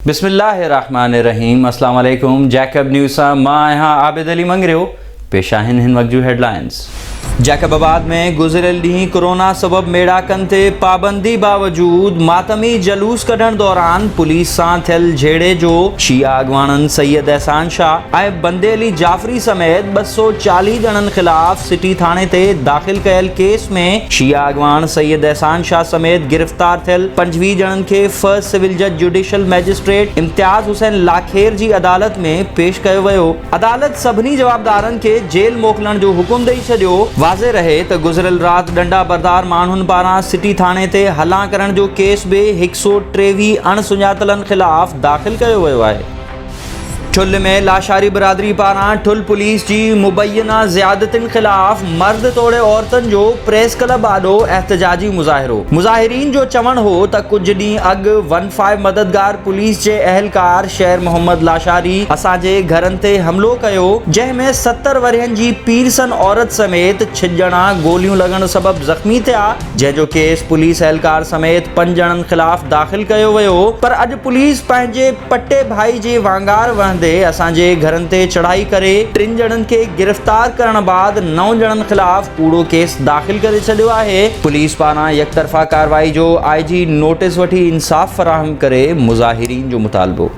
بسم الله الرحمٰن الرحيم اسلام عليڪم جيڪب نيوز سان مان آهيان عابد علي مڱريو پيش آهن هن وقت جون هيڊلائنز جيڪب آباد ۾ گذريل ڏينهن ڪورونا سبب ميڙاڪن تي پابندي باوجود ماتمي جلوس ڪڍڻ دوران پوليس سان ٿيل جهيڙي جو شيعا اڳواڻن سيد احسان شاهه ۽ بندي علي جعفري ڪوڙي سميت ٻه سؤ چاليهه ڄڻن خلاف سٽي ٿاڻي تي داخل ڪيل ڪيس ۾ شيعا اڳواڻ سيد احسان شاهه سميت گرفتار ٿيل پنجويهه ڄڻن کي فرسٽ سول جج جوڊيشل مئجسٽريٽ امتياز حسين لاکير جي عدالت ۾ پيش ڪيو ويو، عدالت سڀني جوابدارن کي جيل موڪلڻ جو حڪم ڏئي ڇڏيو، واضح رهي ته گذريل رات ڏنڊا بردار ماڻهن پاران سٽي ٿاڻي تي هلان ڪرڻ جو ڪيس به هڪ سؤ ٽيويهه اڻ سڃاتلن خلاف داخل ڪيو ويو آهي. ٺل ۾ لاشاري برادري پاران ٺل پوليس جي مبينا زيادتين خلاف مرد توڙي عورتن جو پريس ڪلب آڏو احتجاجي مظاهرو مظاهرين جو چوڻ هو ته ڪجهه ڏينهن اڳ ون فائو مددگار پوليس جي اهلڪار شير محمد لاشاري اسان جي گهرن تي حملو ڪيو جنهن ۾ ستر ورهين جي پيرسن عورت سميت ڇھ ڄڻا گوليون لڳڻ سبب زخمي ٿيا جنهن جو ڪيس پوليس اهلڪار سميت پنج ڄڻن خلاف داخل ڪيو ويو پر اڄ پوليس پنهنجي پٽي ڀائي جي وانگار وهندي اسان جي گهرن تي چڙهائي ڪري ٽن ڄڻن کي گرفتار ڪرڻ بعد نو ڄڻن خلاف ڪوڙو ڪيس داخل ڪري ڇڏيو آهي، پوليس پاران يڪطرفا ڪارروائي جو آء جي نوٽيس وٺي انصاف فراهم ڪري مظاهرين جو مطالبو.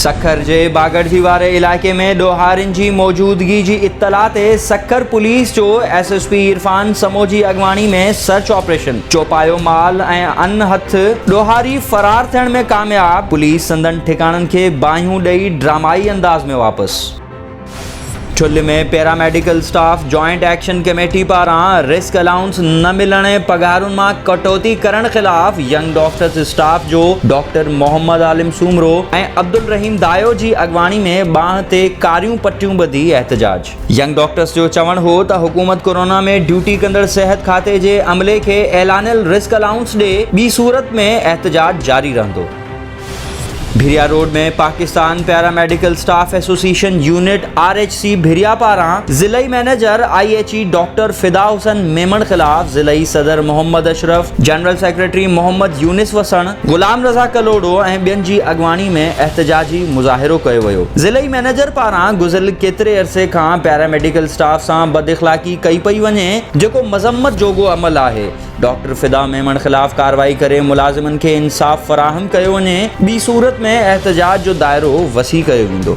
سکر جي باگڙجي واري علائقي ۾ ڏوهارين جي موجودگي جي اطلاع تي سکر پوليس جو S S P Irfan Samo جي اڳواڻي ۾ سرچ آپريشن، چوپايو مال ۽ ان هٿ ڏوهاري فرار ٿيڻ ۾ ڪامياب، پوليس سندن ٺڪاڻن کي باهيون ڏئي ڊرامائي انداز ۾ واپس. Thul ۾ paramedical staff joint action committee پاران رسڪ الائونس نه ملڻ ۽ پگهارن مان ڪٽوتي ڪرڻ خلاف ينگ ڊاڪٽرس اسٽاف جو ڊاڪٽر محمد عالم سومرو ۽ عبدالرحيم دايو جي اڳواڻي ۾ ٻانهن تي ڪاريون پٽيون ٻڌي احتجاج ينگ ڊاڪٽرز جو چوڻ هو ته حڪومت ڪورونا ۾ ڊيوٽي ڪندڙ صحت کاتي جي عملي کي اعلانيل رسڪ الائونس ڏي، ٻي صورت ۾ احتجاج جاري رهندو. Bhiria road ۾ Pakistan paramedical staff association unit, R H C, Bhiria پاران ضلعي manager I H A doctor Fida Hassan Memon خلاف ضلعي صدر محمد اشرف، جنرل سيڪريٽري محمد يونس وسڻ، غلام رضا ڪلهوڙو ۽ ٻين جي اڳواڻي ۾ احتجاجي مظاهرو ڪيو ويو، ضلعي مئنيجر پاران گذريل ڪيتري عرصي کان پيراميڊيڪل اسٽاف سان بد اخلاقي ڪئي پئي وڃي جيڪو مذمت جوڳو عمل آهي، ڊاڪٽر فدا ميمڻ خلاف ڪارروائي ڪري ملازمن کي انصاف فراهم ڪيو وڃي ٻي صورت ۾ احتجاج جو دائرو وسيع ڪيو ويندو.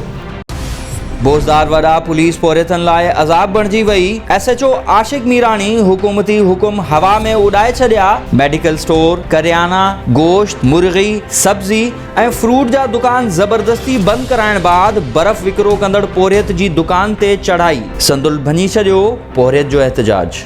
بوزدار وڏا پوليس پورهيتن لاء عذاب بڻجي وئي، S H O Ashiq Mirani حڪومتي حڪم هوا ۾ اڏائي ڇڏيا، ميڊيڪل اسٽور، ڪريانا، گوشت، مرغي، سبزي ۽ فروٽ جا دڪان زبردستي بند ڪرائڻ بعد برف وڪرو ڪندڙ پورهيت جي دڪان تي چڙهائي سندل ڀڃي ڇڏيو، پورهيت جو احتجاج.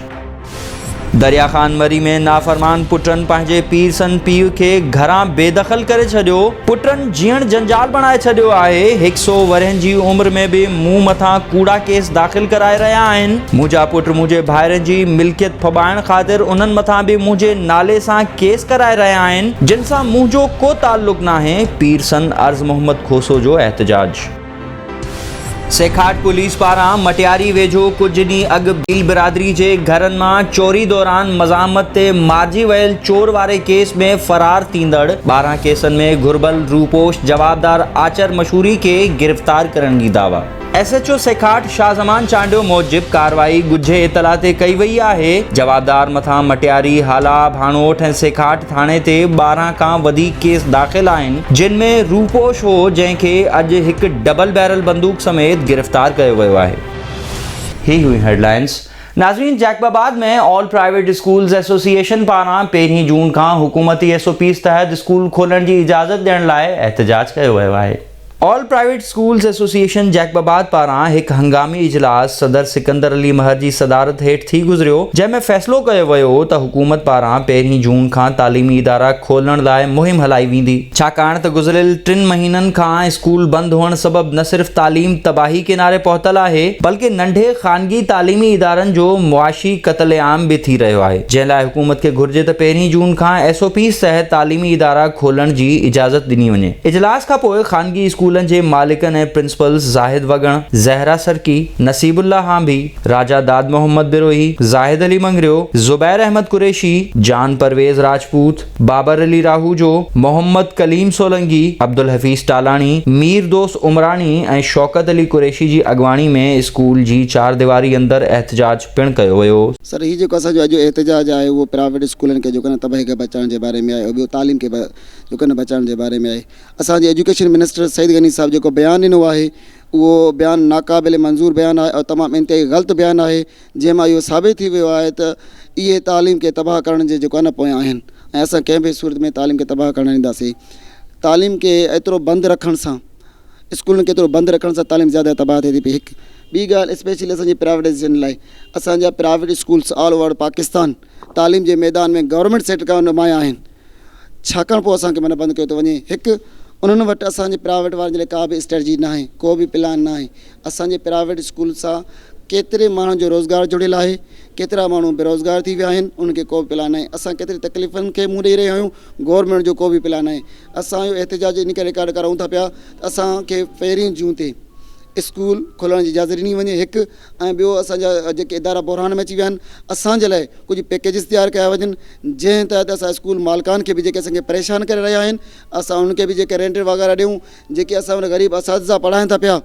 دريا خان مري ۾ نافرمان پٽن پنهنجي پير سن پيء کي گهران بي دخل ڪري ڇڏيو. پٽن جيئڻ جنجال بڻائي ڇڏيو آهي. هڪ سو ورهين جي عمر ۾ به مون مٿان ڪوڙا ڪيس داخل ڪرائي رهيا آهن. منهنجا پٽ منهنجي ڀائرن جي ملڪيت ڦٻائڻ خاطر انهن مٿان به منهنجي نالي سان ڪيس ڪرائي رهيا آهن، جن سان منهنجو ڪو تعلق ناهي، پير سن عرض محمد کوسو جو احتجاج. سيکاٽ پوليس پاران مٽياري ويجهو ڪجهه ڏينهن اڳ ڀيل برادري جي گهرن مان چوري دوران مزاحمت تي مارجي ويل چور واري ڪيس ۾ فرار ٿيندڙ ٻارهن ڪيسن ۾ گهربل روپوش جوابدار آچر مشوري کي گرفتار ڪرڻ جي دعويٰ. S H O سيکاٽ Shah Zaman Chandio موجب ڪارروائي ڳجهي اطلاع تي ڪئي وئي آهي، جوابدار مٿان مٽياري، هالا، ڀاڻوٺ ۽ سيکاٽ، ٿاڻي تي ٻارهن کان وڌيڪ ڪيس داخل آهن، جن ۾ روپوش هو، جنهن کي اڄ هڪ ڊبل بيرل بندوق سميت گرفتار ڪيو ويو آهي. هي هيون هيڊلائنز ناظرين Jacobabad ۾ all private schools association پاران پهرين جون کان حڪومتي ايس او پيز تحت اسڪول کولڻ جي اجازت ڏيڻ لاء احتجاج ڪيو ويو آهي. All private schools association Jacobabad پاران هڪ هنگامي اجلاس صدر سڪندر علي مهر جي صدارت هيٺ ٿي گذريو، جنهن ۾ فيصلو ڪيو ويو ته حڪومت پاران پهرين جون کان تعليمي ادارا کولڻ لاء مهم هلائي ويندي، ڇاڪاڻ ته گذريل ٽن مهينن کان اسڪول بند هئڻ سبب نه صرف تعليم تباهي ڪناري پهتل آهي، بلڪه ننڍي خانگي تعليمي ادارن جو معاشي قتل عام به ٿي رهيو آهي، جنهن لاء حڪومت کي گهرجي ته پهرين جون کان ايس او پيز تحت تعليمي ادارا کولڻ جي اجازت ڏني وڃي. اجلاس کان پوء خانگي اسڪولن جي مالڪن ۽ پرنسپلز زاهد وڳڻ، زهره سرڪي، نصيب الله هانڀي، راجا داد محمد بروهي، زاهد علي مڱريو، زبير احمد قريشي، جان پرويز راجپوت، بابر علي راهوجو، محمد ڪليم سولنگي، عبدالحفيظ ٽالاڻي، مير دوست عمراڻي ۽ شوڪت علي قريشي جي اڳواڻي ۾ اسڪول جي چارديواري اندر احتجاج پڻ ڪيو ويو. سر هي جيڪو اسان جو اڄ جو احتجاج آهي اهو پرائيويٽ اسڪولن کي جيڪو نه تباهي کي بچائڻ جي باري ۾ آهي ٻيو تعليم کي جو ڪن بچائڻ جي باري ۾ آهي اسان جي ايجوڪيشن منسٽر سعيد غني صاحب جيڪو بيان ڏنو آهي اهو بيان ناقابل منظور بيان آهي ۽ تمام انتهائي غلط بيان آهي جنهن مان اهو ثابت ٿي ويو آهي ته اهي تعليم کي تباهه ڪرڻ جي جيڪو نه پويان آهن ۽ اسان ڪنهن به صورت ۾ تعليم کي تباهه ڪرڻ نه ڏينداسين تعليم کي ايترو بند رکڻ سان اسڪولن کي ايترو بند رکڻ سان تعليم زياده تباهه ٿي ٿي پئي هڪ ٻي ڳالهه اسپيشلي اسان جي پرائيويٽائزيشن لاء اسان جا private schools all over Pakistan تعليم جي ميدان ۾ گورنمينٽ سيڪٽر کان نمايان آهن ڇاڪاڻ پوء اسان کي منهن بند ڪيو ٿو وڃي. هڪ، انهن وٽ اسان جي پرائيويٽ وارن جي لاء ڪا به اسٽريٽجي ناهي، ڪو به پلان ناهي. اسان جي پرائيويٽ اسڪول سان ڪيتري ماڻهن جو روزگار جڙيل آهي، ڪيترا ماڻهو بيروزگار ٿي ويا آهن، انهن کي ڪو به پلان ناهي. اسان ڪيتري تڪليفن کي منهن ڏئي رهيا آهيون، گورنمينٽ جو ڪو به پلان ناهي. اسان اهو احتجاج ان ڪري رڪارڊ ڪرائون ٿا پيا ته اسان کي پهرين جون تي اسڪول کولڻ جي اجازت ڏني وڃي. هڪ. ۽ ٻيو اسان جا جيڪي ادارا بحران ۾ اچي ويا آهن اسان جي لاء ڪجهه پيڪيجز تيار ڪيا وڃن جنهن تحت اسان اسڪول مالڪان کي به جيڪي اسان کي پريشان ڪري رهيا آهن اسان انهن کي به جيڪي رينٽ وغيره ڏيون جيڪي اسان وٽ غريب اساتذا پڙهائين ٿا پيا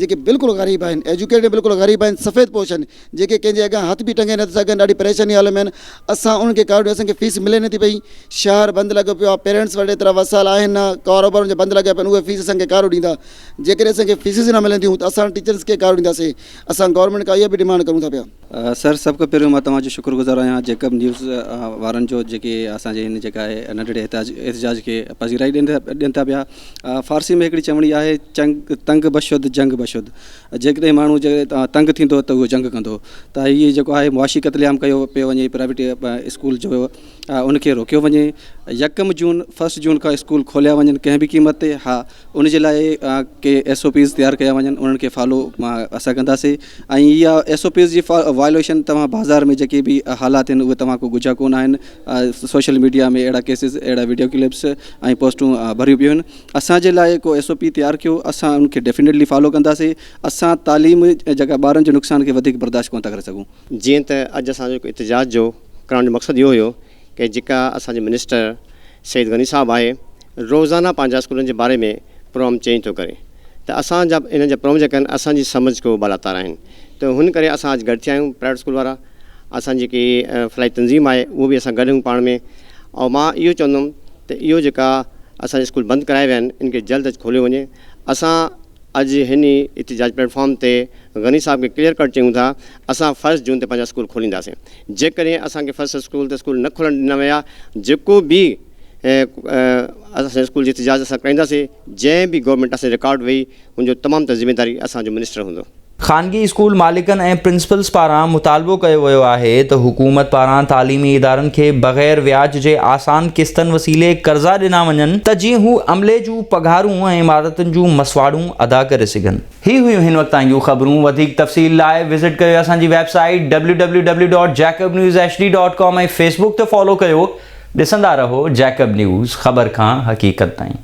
جيڪي بلڪل غريب آهن ايجوڪيٽيڊ بلڪل غريب آهن سفيد پوش آهن جيڪي ڪنهن جي اڳيان هٿ به ٽنگي نٿا سگهن ڏاڍي پريشاني حال ۾ آهن اسان انهن کي ڪارڊ اسان کي فيس ملي نٿي پئي شهر بند لڳو پيو آهي پيرنٽس وٽ ايترا وسائل آهن نه ڪاروبارن جا بند لڳا پيا آهن اهي فيس اسان کي ڪارو ڏيندا جيڪڏهن اسان کي فيسز نه ملنديون ته اسان ٽيچرز کي گاريون ڏينداسين، اسان گورنمينٽ کان اها به ڊيمانڊ ڪرون ٿا پيا. سر سڀ کان پهريون مان توهان جو شڪر گذار آهيان جيڪب نيوز وارن جو جيڪي اسان جي هن جيڪا آهي ننڍڙي احتجاج کي پذيرائي ڏين ٿا پيا فارسي ۾ هڪڙي چوڻي آهي چنگ تنگ بشد جنگ بشد جيڪڏهن ماڻهو تنگ ٿيندو ته اهو جنگ ڪندو ته هي جيڪو آهي معاشي قتل عام ڪيو پيو وڃي پرائيويٽ اسڪول جو ان کي روڪيو وڃي يڪم جون فرسٽ جون کان اسڪول کوليا وڃن ڪنهن به قيمت تي ها ان جي لاء ڪي ايس او پيز تيار ڪيا وڃن انهن کي فالو اسان ڪنداسي ۽ اها ايس او پيز جي وائليشن توهان بازار ۾ جيڪي به حالات آهن اهي توهان کان ڳجها ڪونه آهن سوشل ميڊيا ۾ اهڙا ڪيسز اهڙا ويڊيو ڪلپس ۽ پوسٽون ڀريون پيون آهن اسان جي لاء ڪو ايس او پي تيار ڪيو اسان ان کي ڊيفينيٽلي فالو ڪنداسي اسان تعليم جيڪا ٻارن جي نقصان کي وڌيڪ برداشت ڪونه ٿا ڪري سگهون جيئن ته اڄ اسان جو احتجاج جو ڪرڻ جو مقصد اهو هيو ڪه جيڪا اسان جو منسٽر سيد غني صاحب آهي روزانه پنهنجا اسڪولن جي باري ۾ پروم چينج ٿو ڪري ته اسان جا انهن جا پروم جيڪا آهن اسان جي سمجھ کان بالاتار آهن ته هن ڪري اسان اڄ گڏ ٿيا آهيون پرائيويٽ اسڪول وارا اسان جيڪي فلاحي تنظيم آهي اهو به اسان گڏ آهيون پاڻ ۾ ۽ مان اهو چوندم ته اهو جيڪا اسان جا اسڪول بند ڪرايا ويا آهن ان کي جلد اڄ کوليو وڃي اسان اڄ هن ئي احتجاجي پليٽ فارم تي غني صاحب کي ڪليئر ڪٽ چيون ٿا اسان فرسٽ جون تي پنهنجا اسڪول کولينداسين جيڪڏهن اسان کي فرسٽ اسڪول تي اسڪول نه کولڻ ڏنا ويا جيڪو به اسان جي اسڪول جي احتجاج اسان ڪرائينداسين جنهن به گورنمينٽ اسان جي رڪارڊ وئي ان جو تمام تر ذميواري اسان جو منسٽر هوندو. خانگي اسڪول مالڪن ۽ پرنسپلز پاران مطالبو ڪيو ويو آهي ته حڪومت پاران تعليمي ادارن کي بغير وياج جي آسان قسطن وسيلي قرضا ڏنا وڃن ته جيئن هو عملي جون پگهارون ۽ عمارتن جون مسواڙون ادا ڪري سگهن. هي هيون هن وقت تائين جون خبرون وڌيڪ تفصيل لاء وزٽ ڪيو اسان جي website W W W dot Jacob news H D dot com ۽ Facebook تي فالو ڪيو ڏسندا رهو جيڪب نيوز خبر کان حقيقت تائين.